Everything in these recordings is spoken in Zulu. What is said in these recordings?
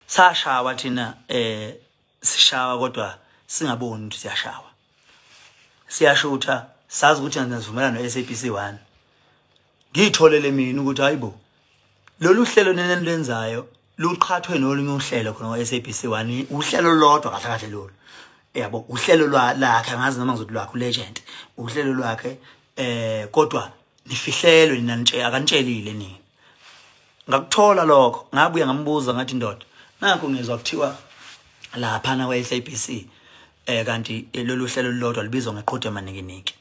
sashawa thina eh sishawa kodwa singaboni ukuthi siyashawa siyashutha sazi ukuthi angazivumelana no-SABC 1 ngiyitholele mina ukuthi hayibo lolu hlelo nenenilwenzayo luqhathwe nolunye uhlelo khona ngo-SABC 1 uhlelo lodwa kahle kahle lolu yabo uhlelo lwakhe angazi noma ngizothi lwakhe ulegend uhlelo lwakhe eh kodwa nifihlelwe nina nje akanitshelile nini ngakuthola lokho ngabuya ngambuza ngathi ndoda nakho ngizwa kuthiwa laphana kwa-sabc um eh, kanti eh, lolu hlelo lulodwa lubizwa ngeqhude amaninginiki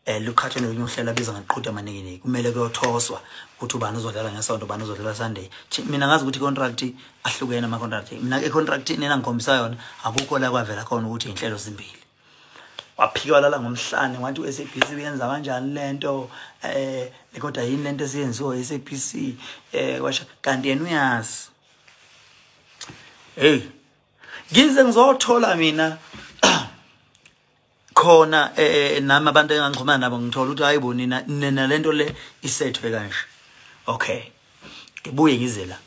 um luqhathwe nolunye uhlelo abizwa ngeqhude amaninginiki kumele kuyothoswa ukuthi ubani uzodlala ngesonto ubani uzodlala sunday mina ngazi ukuthi i-contract ahlukene ama-contract mina econtractini enangikhombisa yona akukho la kwavela khona ukuthi iy'nhlelo zimbili waphika walala ngomhlane wathi u-sabc uyenza kanjani le nto eh, um kodwa yini le nto esiyenziwa i-sabc um eh, washa kanti yena uyazi heyi ngize ngizothola mina khona um nami abantu engangixhumana nabo ngithola ukuthi hayi bo nina nina le nto le isethwe kanje okay ngibuye ngize la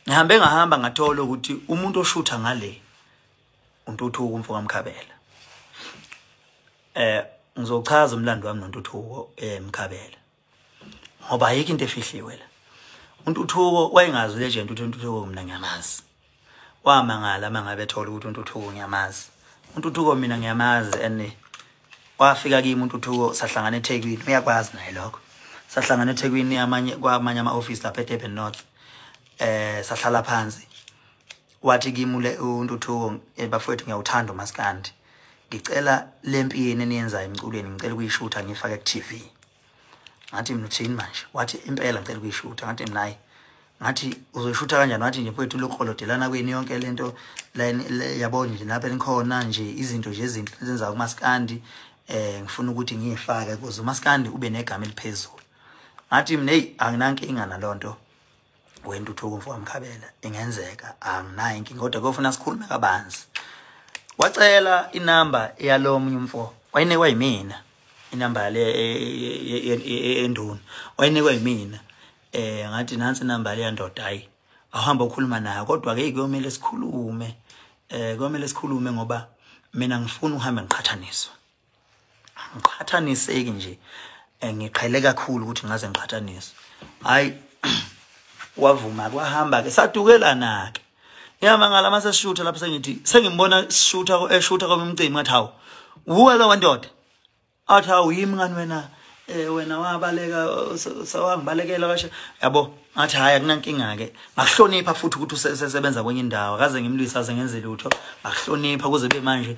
ngihambe ngahamba ngathola ukuthi umuntu oshutha ngale uNtuthuko umfo kaMkhabela eh ngizochaza umlando wami noNtuthuko eMkhabela eh, ngoba ayikho into efihliwe la uNtuthuko wayengazi ulegend ukuthi uNtuthuko mina ngiyamazi wamangala mangabe ethola ukuthi uNtuthuko ngiyamazi uNtuthuko mina ngiyamazi and wafika kimi uNtuthuko sahlangana eThekwini uyakwazi naye lokho sahlangana eThekwini amanye kwamanye ama-office lapha eDurban North eh sahlala phansi wathi kimi ule uNtuthuko eh, bafowethu ngiyawuthanda umaskandi ngicela lempi yenu eniyenzayo emculweni ngicela ukuyishutha ngifake ku TV ngathi mina uthini manje wathi impela ngicela ukuyishutha ngathi mina hayi ngathi uzoyishutha kanjani wathi nje mfowethu lokholodelana kwenu yonke lento yabo nje lapha enikhona nje izinto nje ezinto ezenza kumaskandi eh ngifuna ukuthi ngiyifake kuze umaskandi ube negama eliphezulu ngathi mina hey anginankinga nalonto wentuthuko mfowami Khabela ingenzeka anginayo inkinga kodwa kuyofuna sikhulume kabanzi wacela inamba yalomunye umfo wayinikwa yimina inamba le enduna wayinikwa yimina eh ngathi nansi inamba le yandoda hayi awuhamba ukhuluma nayo kodwa ke kuyomele sikhulume eh kuyomele sikhulume ngoba mina ngifuna uhambe ngiqhathaniswa angiqhathaniseki nje eh, ngiqhele kakhulu ukuthi ngaze ngiqhathanise hayi wavuma kwahamba ke sadukelana ke ngiyama ngala mase shutha lapho sengithi sengimbona shutha ko eshutha ko umcimbi ngathi hawu wuwe lo wandoda athi hawu yimi ngani wena eh wena wabaleka sawangibalekela kashe yabo ngathi hayi akunankinga ke ngakuhlonipha futhi ukuthi usesebenza kwenye indawo akaze ngimlwisa aze ngenze lutho ngakuhlonipha kuze be manje